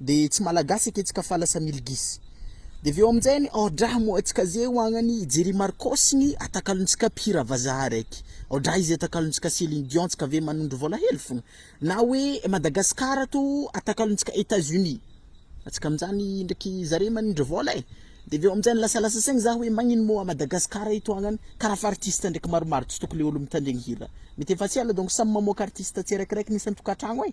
de tsy malagasy ake tsika fa lasa milgis de avy eo aminjainy aodraha moa tsika ze hoagnany jerry marcos ny atakalony tsika mpihira vazaha raiky aodraha izy atakalony tsika celine dion tsika ve manondro vola hely fogna na hoe madagascar ato atakalony tsika etats unis atsika aminjany ndraiky zare manindry vola e de avy eo aminjany lasalasa saigny za hoe magnino moa madagascar eto agnany karaha fa artiste ndraiky maromaro tsy tokony le olo mitandregny hira mety efa tsy ela donc samy mamoaka artiste tsiraikiraiky ny isan-tokatragno e.